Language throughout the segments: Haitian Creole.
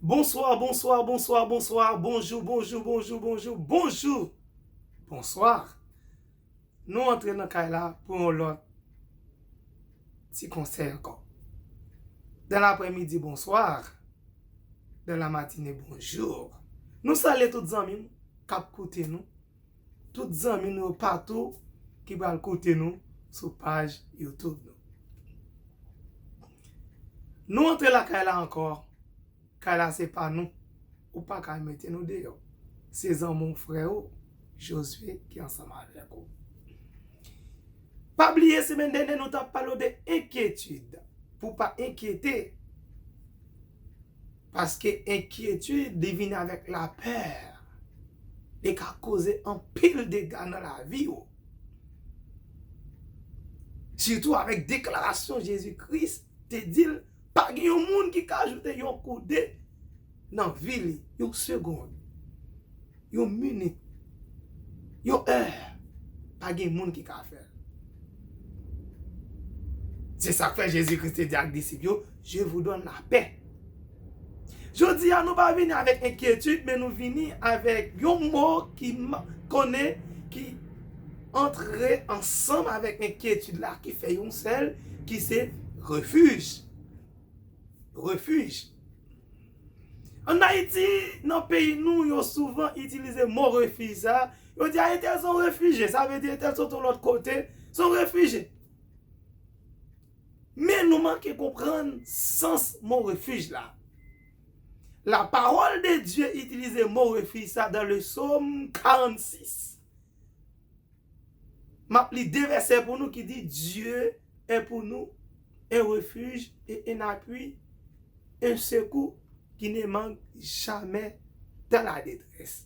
Bonsoir bonsoir bonsoir bonsoir bonjou bonjou bonjou bonjou bonjou bonsoir nou antre nan kay la pou yon lòt ti konsèy ankò dan laprèmidi bonsoir dan lamatine bonjour nou salye tout zanmi nou kap koute nou Tout zanmi nou yo patou ki pral koute nou sou paj YouTube nou. Nou antre lakay la ankò, kay la se pa nou, ou pa ka mete nou deyò. Se zanmi w, frè ou, Josué ki ansanm avèk ou. Pa bliye semèn dènye nou t ap pale w de enkyetid, pou w pa enkyete. Paske enkyetid li vin avèk lapè, li ka koze anpil dega nan lavi ou. Sitou avèk deklarasyon Jezi Kris te di l pa gen yon moun ki ka ajoute yon koude nan vi li, yon segond. yon minit, yon è, pa gen moun ki ka fè l. Se sa k fè Jezi Kris te di ak disip yo, Je vou donn lapè. Jodi a, nou pa vini avèk enkyetid, men nou vini avèk yon mo ki konnen, ki antre ansanm avèk enkyetid la, ki fè yon sèl, ki se refij. Refij. An Ayiti, nan peyi nou, yo souvan itilize mo refij sa a, yo di a entèl se yon refije, sa vle di entèl sot yon lòt kote, se yon refije. Men nou manke konprann sans mo refij la. La parole de Dieu itilize mo refij sa a dans le psaume 46. M ap li de vèsè pou nou ki di, Dye è pou nou en refij e en apui, en sekou ki ne mank jamè dan la detrès.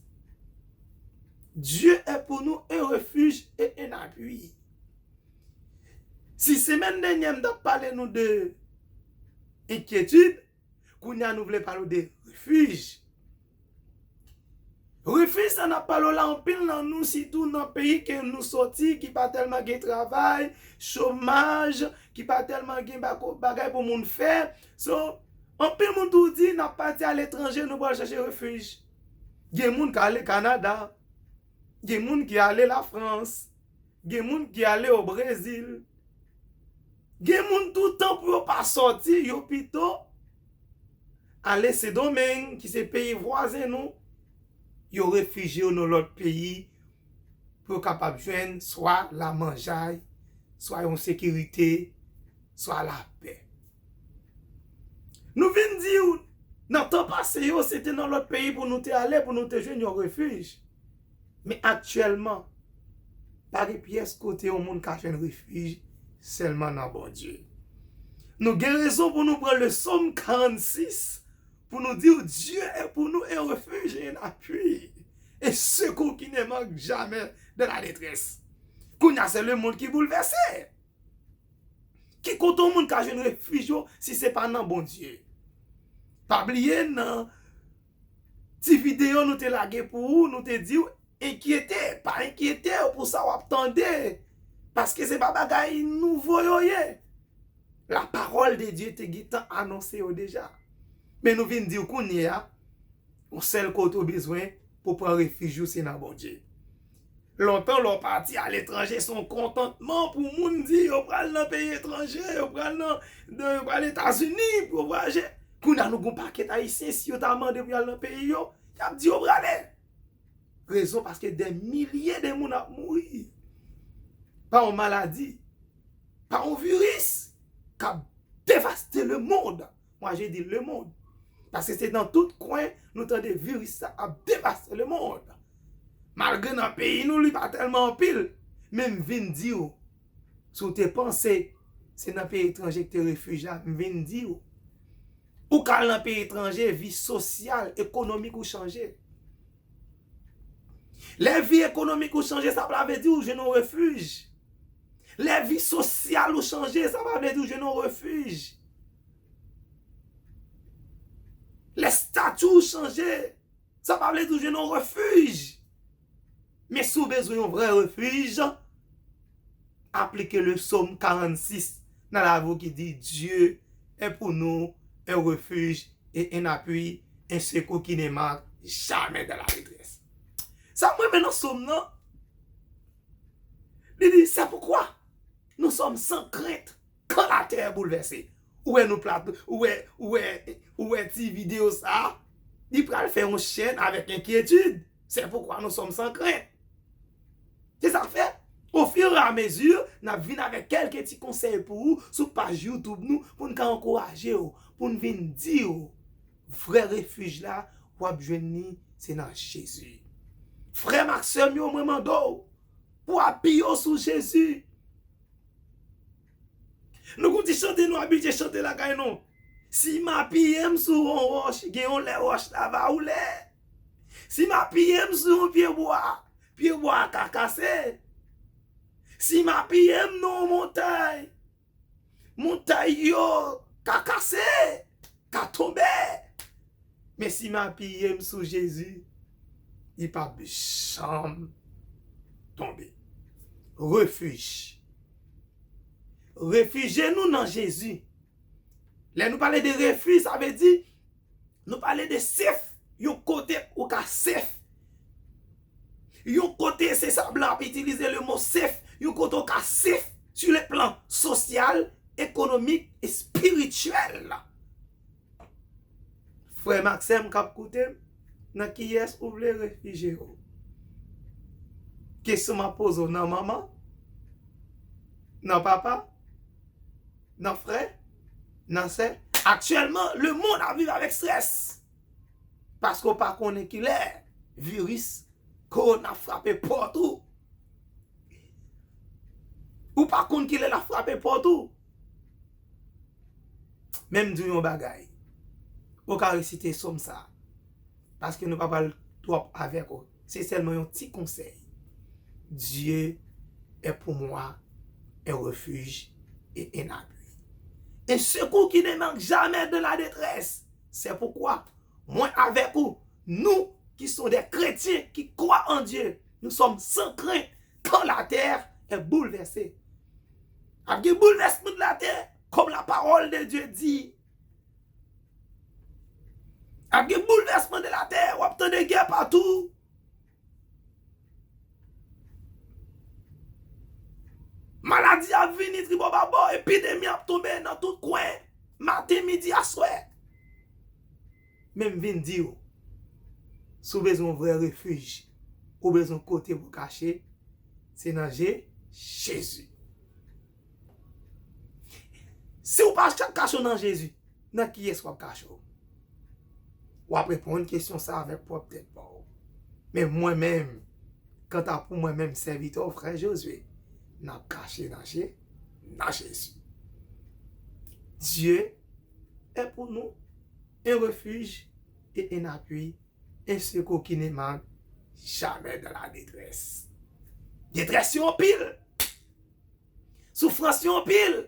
Dye è pou nou en refij e en apui. Si semèn dènyè m t ap pale nou de enkyetid, Kounya nou vle pale w de refuge. Refuge sa nap pale w la anpil nan nou sitou nan peyi ke nou soti ki pa telman gen travay, chomaj, ki pa telman gen bagay pou moun fè. So anpil moun tou di nap pati a letranje nou pral chache refuge. Gen moun kale Canada, gen moun ki ale la France. Gen moun ki ale o Brezil. Gen moun tou tan pou yo pa sòti yo pito ale Sendomeng ki se peyi vwazen nou, yo refije yo nan lòt peyi pou yo kapab jwenn swa lamanjay, swa yon sekirite, swa lapè. Nou vin di w nan tan pase yo se te nan lòt peyi pou nou te ale pou nou te jwenn yon refij. Men aktyèlman, pa gen pyès kote yon moun ka jwenn refij sèlman nan Bondye. Nou gen rezon pou nou pran le Sòm 46 pou nou di w, Dieu est pour nous un refuge et un appui, un secours qui ne manque jamais dans la détresse. Kounye a se lemonn ki boulvèse. Ki kote yon moun ka jwenn refij yo si se pa nan Bondye? Pa bliye nan. Ti video nou te lage pou ou nou te diw enkyete pa enkyetew pou sa wap tande paske se pa bagay nouvo yo ye la parole de Dieu te gentan anonse yo deja men nou vin diw kounyea yon sèl kote ou bezwen pou pran refij ou se nan Bondye. Lontan lè w pati aletranje se yon kontantman pou moun di yo pral nan peyi etranje, yo pral nan, yo pral Etazini pou yo vwayaje. Kounye a nou gen yon pakèt Ayisyen si yo ta mande pou y al nan peyi yo, y ap di yo prale. Rezon paske dè milye de moun ap mouri pa yon maladi, pa yon viris k ap devaste lemonn. Moi je dis le monde. Paske se nan tout kwen nou tande viris sa ap devase le monde. Malgre nan peyi nou li pa tèlman anpil. Men m vin di w, si w te panse se nan peyi etranje ki te refij la, m vin di w, ou ka al nan peyi etranje vi sosyal, ekonomik ou chanje. Lè vi ekonomik ou chanje sa pa vle di ou jwenn yon refij. Lè vi sosyal ou chanje sa pa vle di ou jwenn yon refij. Lè stati ou chanje sa pa vle di ou jwenn yon refij. Men si ou bezwen yon vrè refij. aplike le Psaume 46 nan lavi w ki di, Dieu est pour nous un refuge et un appui, un secours qui ne manque jamais dans la détresse. Sa m renmen nan Psaume nan, li di, c'est pourquoi nous sommes sans crainte. Kan la terre bouleverse. Ou wè nou plat ou wè ou wè ou wè ti video sa a li pral fè yon chèn avèk enkyetid sè poukwa nou sòm san krent se sa k fè o fur et a mesure n ap vin avèk kèlke ti konsèy pou ou sou paj youtube nou pou n ka ankouraje w pou n vin di w vrè refuj la w ap jwenn li se nan jezi frè m ak sè m yo mwen mande w pou apiye w sou jezi Nou konn ti chante nou abitye chante lakay nou. Si m apiye m sou yon wòch, gen yon lè wòch la va woule. Si m apiye m sou yon pye bwa, pye bwa a ka kase. Si m apiye m nan yon montay, montay yo ka kase, ka tonbe. Men sim apiyem sou Jezi li pap janm tonbe refuj refije nou nan Jezi lè nou pale de refuj sa vle di nou pale de sef yon kote ou ka sef yon kote se sa blan ap itilize le mo sef yon kote ou ka sef su le plan sosyal ekonomik espirityèl. Frèm ak sèm kap koutem nan kiyès ou vle refije w? Kesyon map poze w nan manman? Nan papa? Nan frè? Nan sè? Aktyèlman le mond ap viv avèk strès paske w pa konnen kilè viris kowona ap frape pòt ou. Ou pa konn kilè lap frape pòt ou. Men m di w yon bagay, ou ka resite som sa a, paske nou pa pral twòp avèk ou, se sèlman yon ti konsèy, Dieu est pour moi un refuge et un appui, un secours qui ne manque jamais dans la détresse, c'est pourquoi mwen avèk ou, nous qui sommes des chrétiens qui croient en Dieu, nous sommes sans crainte quand la terre est bouleversée. Ap gen boulvèsman nan latè, kòm la pawòl de Dye di. Ap gen boulvèsman nan latè, w ap tande gè patou. Maladi ap vini tribòbabò, epidemi ap tonbe nan tout kwen, maten, midi, aswè. Men m vin di ou, si w bezwen yon vrè refij, ou bezwen yon kote pou w kache, se nan je Jezi. Si w pa kache w nan Jezi, nan kiyès w ap kache w? W ap reponn kesyon sa a avèk pwòp tèt pa w. Men mwen menm, kanta pou mwen menm sèvitè w, frè Josué, m ap kache nan je, nan Jezi. Dye. è pou nou, un refuge et un appui, un secours qui ne manque jamais dans la détresse. Detrès yo anpil, soufrans yo anpil,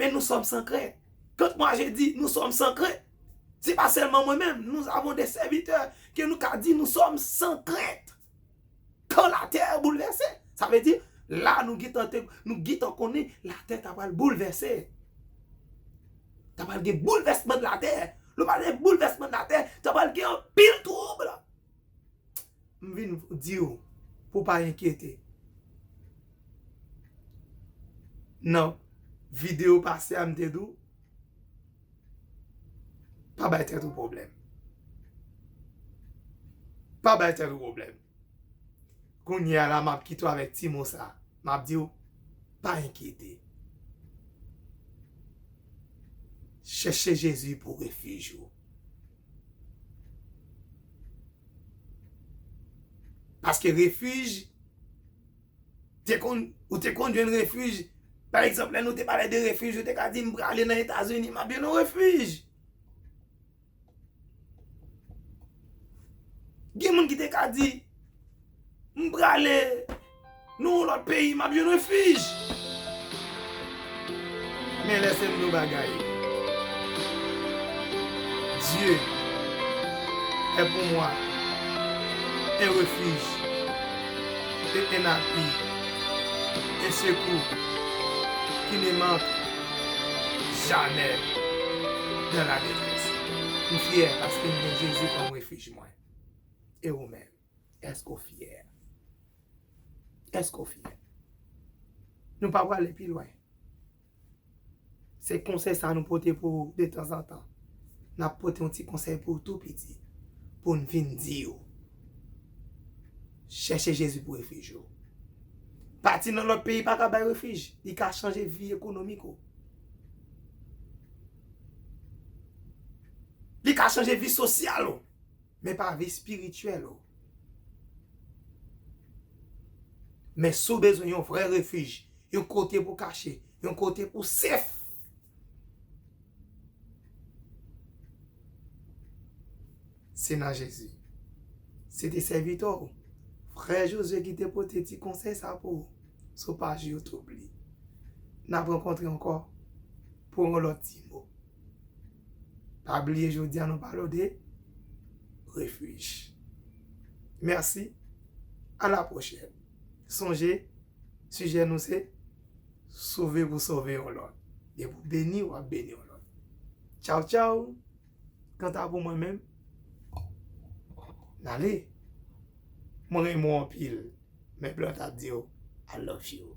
men nou sòm san krent. Kant mwa je di nou sòm san krent, se pa sèlman mwen menm, nous avons des serviteurs ke nou ka di nou sòm san krent. Kan latè a boulvèse. Sa vle di, la nou gentan te, nou gentan konnen latè ta pral boulvèse. Ta pral gen boulvèsman nan latè. Lè w pale de boulvèsman nan latè, ta pral gen anpil twoub. M vin di w pou w pa enkyete. Nan videyo pase a m te di w, Pa bay tèt ou pwoblèm. Pa bay tèt ou pwoblèm. Kounye a la, m ap kite w avèk ti mo sa a. M ap di w, pa enkyete. Chèche Jezi pou refij ou. Paske refij. Te konn, ou te konn jwenn refij. Pa egzanp, lè nou te pale de refij, ou te ka di m prale nan Etazini, m ap jwenn yon refij. Gen moun ki te ka di, m prale nan yon lòt peyi, m ap jwenn refij. Men lè se vre bagay Dieu est pour moi un refuge et un appui un secours qui ne manque jamais dans la détresse M fyè paske m gen Jezi kòm refij mwen E ou menm? Èske w fyè? Èske w fyè? Nou pa prale pi lwen. Se konsèy sa nou pote pou ou detanzantan. N ap pote yon ti konsèy pou ou tou piti pou n vin di ou, chèche Jezi pou refij ou. Pati nan lòt peyi pa ka bay refij. Li ka chanje vi ekonomik ou. Li ka chanje vi sosyal ou. Men pa vi spirityèl ou. Men si w bezwen yon vrè refij, yon kote pou kache, yon kote pou sef, se nan Jezi. Se te sèvitè w, frè Josue ki te pote ti konsèy sa pou ou sou paj YouTube li. N ap rankontre ankò pou yon lòt ti mo. Pa bliye jodi a nou pale w de refij. Mèsi, a la pwochèn. Sonje, sijè nou se sove pou sove yon lòt. Depi w beni, w ap beni yon lòt. Tchaw tchaw! Kanta pou mwen menm, m ale. Mwen renmen w anpil. Men blan t ap di w I love you.